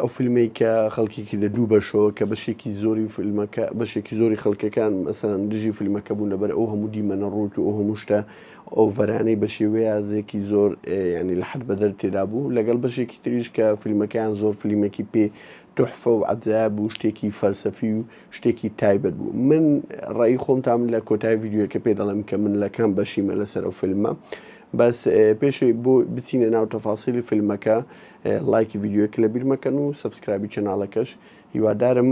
ئەو فیلمەی کە خەڵکی کردە دوو بەشەوە کە بەشێکی زۆری فیلمەکە بەشێکی زۆری خەڵکەکان مەسەن دژی فیلمەکە بوون لەبەر ئەو هەموو دیمەنە ڕووت و ئەو هەموو شتە ئۆڤەرانەی بە شێوەیەزێکی زۆر ینی لە حد بەدەر تێدا بوو لەگەڵ بەشێکی تریش کە فیلمەکەیان زۆر فیلمێکی پێ تحفە و عجا بوو شتێکی فەلسەفی و شتێکی تایبەت بوو من ڕێی خۆمتام لە کۆتای یددیوەکە پێ دەڵێم کە من لە کام بەشیمە لەسەر ئەو فیلمە بەس پێشی بۆ بچینە ناو تەفاسیلی فیلمەکە ڵایکی ڤیدیۆیەک لەبیر مەکەن و سەبسکرابی چەناڵەکەش هیوادارم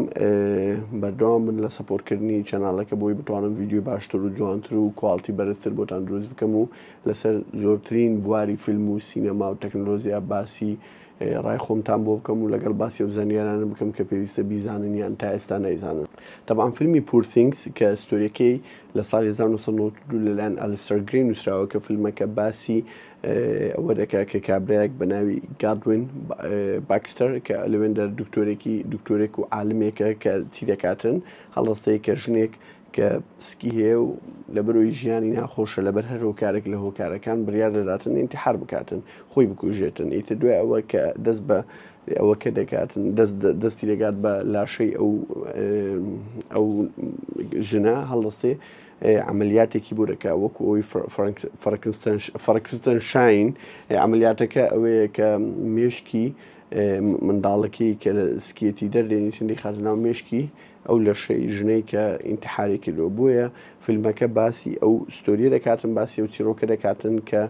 بەردەوام من لە سەپۆرکردنی چەناڵەکە بۆی بتوانم ڤیددیو باشتر و جوانتر و کوالتی بەرزتر بۆتان دروست بکەم و لەسەر زۆرترین بواری فیلم و سینەما و تەکنۆلۆزییا باسی ڕای خۆمتان بۆ بکەم و لەگەڵ باسی و زانیارانە بکەم کە پێویستە بیزانن یان تا ئێستا نایزانن تەبان فیلمی پورسینگس کە ستۆریەکەی لە ساڵی 1992 لەلایەن ئەلستەر گری نووسراوە کە فیلمەکە باسی ئەوە دەکات کە کابرایەک بە ناوی گادوین باکستەر کە لەوێندەر دکتۆرێکی دکتۆرێک و عالمێکە کە چی دەکاتن هەڵستەیە کە ژنێک کە سکی هەیە و لە بەرۆی ژیانی ناخۆشە لەبەر هەر هۆکارێک لە هۆکارەکان بریار دەداتن ئینتحار بکاتن خۆی بکوژێتن ئیتە دوای ئەوە کە دەست بە ئەوە کە دەکاتن دەستی دەگات بە لاشەی ئەو ئەو ژنە هەڵستێ عەمەلیاتێکی بورەکە وەکو ئەوی فڕکستەنشاین، عەمەلیاتەکە ئەوەیە کە مێشکی منداڵەکەی کە لە سکیەتی دەردێنیتن دەیخاتە ناو مێشکی ئەو لەشەی ژنەی کە ئینتحاری کردووە بۆیە فیلمەکە باسی ئەو ستۆریە دەکاتن باسی ئەو چیرۆکە دەکاتن کە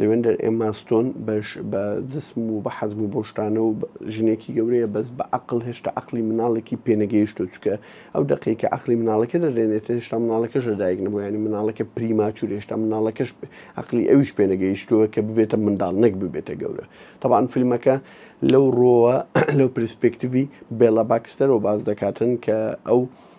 لەوێندەر ئێمما ستۆن بەش بە جسم و بە حەجم و بەو شتانە و ژنێکی گەورەیە بەس بە عەقڵ هێشتا عەقڵی مناڵێکی پێ نەگەیشتووە چونکە ئەو دەقەی کە عەقڵی مناڵەکە دەدێنێتە هێشتا مناڵەکەش لەدایک نەبووە یانی مناڵەکە پریماچوور هێشتا مناڵەکەش عەقڵی ئەویش پێ نەگەیشتووە کە ببێتە منداڵ نەک ببێتە گەورە تەبعەن فیلمەکە لەو ڕۆوە لەو پرسپێکتیڤی بێڵا باکستەرەوە باس دەکاتن کە ئەو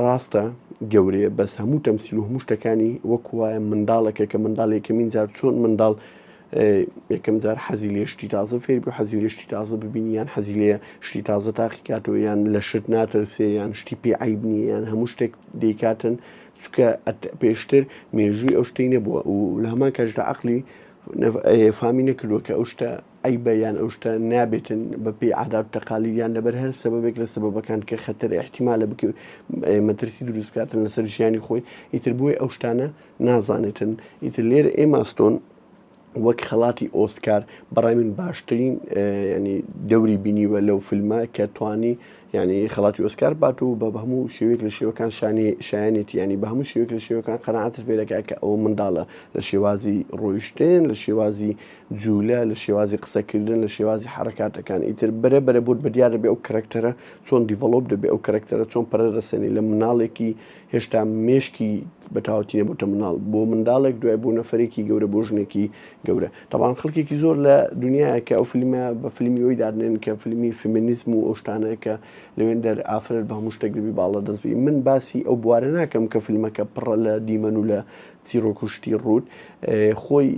ڕاستە گەورەیە بەس هەموو تەمسیل و هەموو شتەکانی وەک وایە منداڵێکە کە منداڵ یەکەمین جار چۆن منداڵ یەکەم جار حەزی لێ شتی تازە فێر بوو حەزی لێ شتی تازە ببینی یان حەزی لێ شتی تازە تاقی کاتەوە یان لە شت ناترسێ یان شتی پێ عیب نیە یان هەموو شتێک دەیکاتن چکە پێشتر مێژووی ئەو شتەی نەبووە و لە هەمان کەشدا عقلی فامی نەکردووە کە ئەو شتە ئەی بە یان ئەو شتە نابێتن بە پێی عادات و تەقالید یان لەبەر هەر سەبەبێک لە سەبەبەکان کە خەتەرە ئیحتیمالە بک مەترسی دروست بکاتن لەسەر ژیانی خۆی ئیتر بۆی ئەو شتانە نازانێتن ئیتر لێرە ئێما ستۆن وەک خەڵاتی ئۆسکار بەڕای من باشترین ینی دەوری بینیوە لەو فیلمە کە توانی ینی خەڵاتی ئۆسکار بات و بە هەموو شێوێک لە شێوەکان شانی شایەنێتی ینی بە هەموو شێوێک لە شێوەکان قەنعاتر پێدەکە کە ئەو منداڵە لە شێوازی ڕۆیشتێن لە شێوازی جولە لە شێوازی قسە کردن لە شێوازی حەڕەکاتەکان ئیتر بەرە بەرە بۆت بەدیار دەبێ ئەو کەرەکتەرە چۆن دیڤەڵۆپ دەبێ ئەو کەرەکتەرە چۆن پەرە دەسەنی لە مناڵێکی هێشتا مێشکی بە تاوەتی نەبووتە مناڵ بۆ منداڵێک دوای بۆ نەفرێکی گەورە بۆ ژنێکی گەورە تاوان خەڵکێکی زۆر لە دنیاە کە ئەو فیلمە بە فیلمی ئەوی دادنێن کە فیلمی فمینیزم و ئەوشتانە کە لەوێن دەر ئافرەت بە هەموو شتێک دەبی باڵە دەستبی من باسی ئەو بوارە ناکەم کە فیلمەکە پڕە لە دیمەن و لە چیرۆک و شتی ڕووت خۆی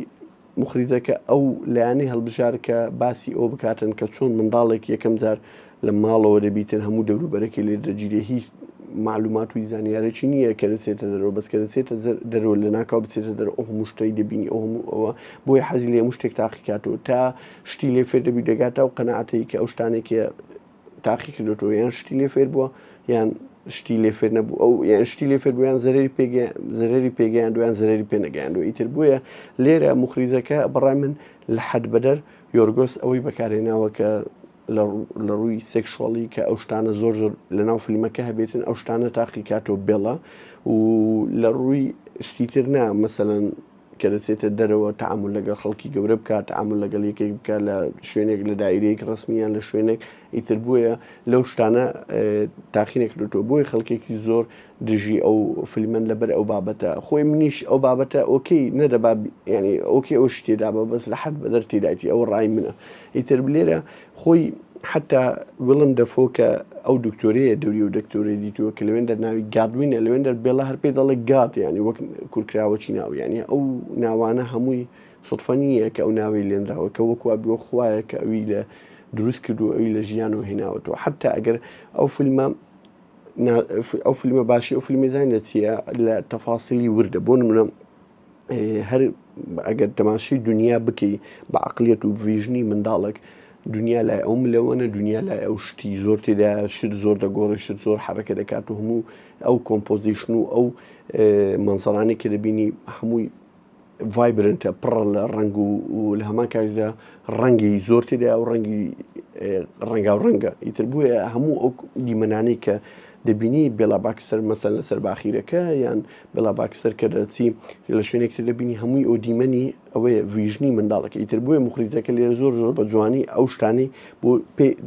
مخریجەکە ئەو لایەنەی هەڵبژارد کە باسی ئەوە بکاتن کە چۆن منداڵێک یەکەم جار لە ماڵەوە دەبیتن هەموو دەوروبەرەکەی لێ دەگیرێ هیچ معلومات و زانیارێکی نییە کە دەچێتە دەرەوە بەس کە دەچێتە دەرەوە لە ناکاو بچێتە دەرەوە ئەو هەموو شتەی دەبینی ئەو هەموو ئەوە بۆیە حەزی لێ هەموو شتێک تاقیکات و تا شتی لێ فێر دەبی دەگاتە ئەو قەناعەتەی کە ئەو شتانێکە تاقی کردوەوە یان شتی لێ فێر بووە یان شتی لێ فێر نەبوو ئەو یان شتی لێ فێر بوویان زەرری پێ زەرری پێگەیان دویان زەرری پێ نەگەیاندو ئیتر بووە لێرە مخریزەکە بەڕای من لە حەد بەدەر یۆرگۆس ئەوەی بەکارێناوە کە لە ڕووی سێکشۆڵی کە ئەو شتانە زۆر زۆر لە ناو فیلمەکە هەبێتن ئەو شتانە تاقی کاتۆ بێڵە و لە ڕووی شتیتر نا مەسەەن کە دەچێتە دەرەوە تەعامول لەگەڵ خەڵکی گەورە بکات، تەعامول لەگەڵ یەکێک بکات لە شوێنێک، لە دایرەیەک ڕەسمی یان لە شوێنێک، ئیتر بۆیە لەو شتانە تاقی نەکردۆتەوە، بۆیە خەڵکێکی زۆر دژی ئەو فیلمەن لەبەر ئەو بابەتە، خۆی منیش ئەو بابەتە ئۆکەی نەدەبا یانی ئۆکەی ئەو شتێ دابا بەس لە حەد بەدەر تیدایەتی ئەوە ڕای منە، ئیتر لێرە خۆی حتا وڵم دەفۆ کە ئەو دکتۆریە دەوری و دکتۆری دیتووە کە لەوێن دەر ناوی گادوینە لەوێن دەر بێڵە هەر پێ دەڵێک گات ینی وەک کورکراوەچی ناویانی ئەو ناوانە هەمووی سوتفە نییە کە ئەو ناوی لێنراوە کە وەکوا بووە خویە کە ئەوی لە دروست کرد و ئەوی لە ژیان و هێناوەەوە حتا ئەگەر ئەو فیلمە ئەو فیلمە باشی ئەو فیلمی زانین لە چییە لە تەفاسیلی وردە بۆ منە هەر ئەگەر تەماشی دنیا بکەی بە عقلێت و ڤژنی منداڵک دنیا لای ئەو ملەوەە دنیا لای ئەو شتی زۆر تێدا شت زۆر دەگۆڕی شت زۆر حرەکە دەکات و هەموو ئەو کۆمپۆزیشن و ئەو منسەرانی کە دەبینی هەمووی ڤایبرنتە پڕ لە ڕنگ و لە هەمان کاریدا ڕەنگی زۆر تێدا و ڕەنگی ڕەنگا و ڕەنگە ئیتر بووە هەموو ئەو دیمەنانی کە دەبینی بێڵا باکسەر مەسەن لەسەر باخیرەکە یان بلا باکستەر کە دەچی لە شوێنێک تر دەبینی هەمووی ئەو دیمەنی ئەوەیە ویژنی منداڵەکە ئیتر بۆیە مخریجەکە لێرە زۆر زۆر بە جوانی ئەو شتانی بۆ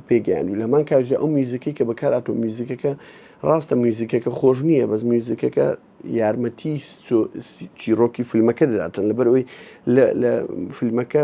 پێگەیان و لە هەمان کاژە ئەو میوزیکی کە بەکاراتۆ میوزیکەکە ڕاستە میوزیکەکە خۆش نییە بەس میوزیکەکە یارمەتی چیرۆکی فیلمەکە دەداتن لەبەر ئەوی لە فیلمەکە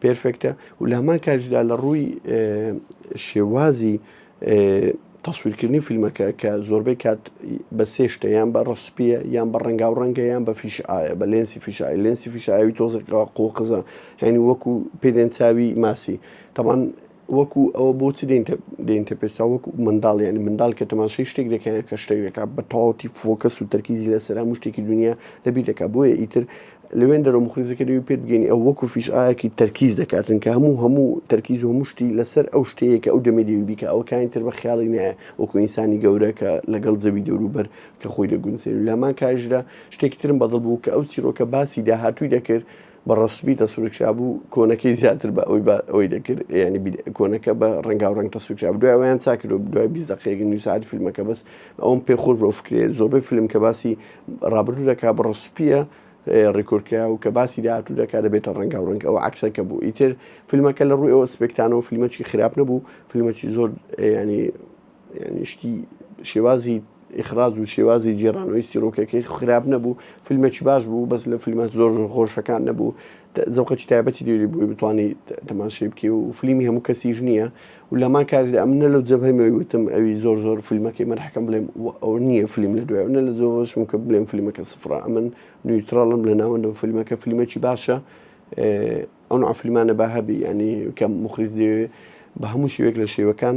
پێرفێکتە و لە هەمان کاتیشدا لە ڕووی شێوازی تەسویرکردنی فیلمەکە کە زۆربەی کات بە سێ شتە یان بە ڕسپیە یان بە ڕەنگا و ڕەنگە یان بە فیش ئاە بە لێنسی فیشای لێنسی فیشاوی تۆزەکەەوە قۆقزە هەنی وەکو پێدێن چاوی ماسی تەمان وەکو ئەوە بۆچی دێنتە دێنتە پێستا وەکو منداڵ یعنی منداڵ کە تەماشەی شتێک دەکەیان کە شتێک دەکا بە تەواوەتی فۆکەس و تەرکیزی لەسەر هەموو شتێکی دنیا لەبیر دەکا بۆیە ئیتر لەوێن دەرەوە مخریزەکە دەوی پێت بگەین ئەو وەکو فیش ئاەکی تەرکیز دەکاتن کە هەموو هەموو تەرکیز و هەموو شتی لەسەر ئەو شتەیە کە ئەو دەمێ دەوی بیکە ئەوە کاین تر بە خیاڵی نایە وەکو ئینسانی گەورە کە لەگەڵ زەوی دەوروبەر کە خۆی دەگونسێن لەمان کاژرا شتێکی ترم بەدڵ بوو کە ئەو چیرۆکە باسی داهاتووی دەکرد بە ڕەسمی تەسویرکرابوو کۆنەکەی زیاتر بە ئەوی بە ئەوی دەکرد ینی کۆنەکە بە ڕنگاو ڕنگ تەسویرکراب دوای ئەویان چاکرۆ دوای بی دقەیەک نیوسعات فیلمەکە بەس ئەوم پێ خۆش بۆ فکرێت زۆربەی فیلم کە باسی ڕابردوو دەکا بە ڕسپیە ڕیکۆرکە و کە باسی داهاتوو دەکات دەبێتە ڕەنگا و ڕنگ ئەو عکسەکە بوو ئیتر فیلمەکە لە ڕووی ئەوە سپێکتانەوە فیلمەکی خراپ نەبوو فیلمەکی زۆر ینی یانی شتی شێوازی ئیخراز و شێوازی جێرانەوەی سیرۆکەکەی خراپ نەبوو فیلمەکی باش بوو بەس لە فیلمە زۆر زۆر خۆشەکان نەبوو زەوقەی تایبەتی دێری بووی بتوانانی تەماشی بکە و فیلمی هەموو کەسیش نییە و لەمان کار ئەم نە لە جەبهەمەوەی وتم ئەوی زۆر زۆر فیلمەکەی مەرحەکەم بڵێم ئەو نییە فیلم لە دوای نە لە زۆرشم کە بڵێم فیلمەکە سفرا ئەمن نیوترالم لە ناوەندم فیلمەکە فیلمەکی باشە ئەو عفلمانە بە هەبی ینی کە مخریز دەوێت بە هەموو شوێک لە شێوەکان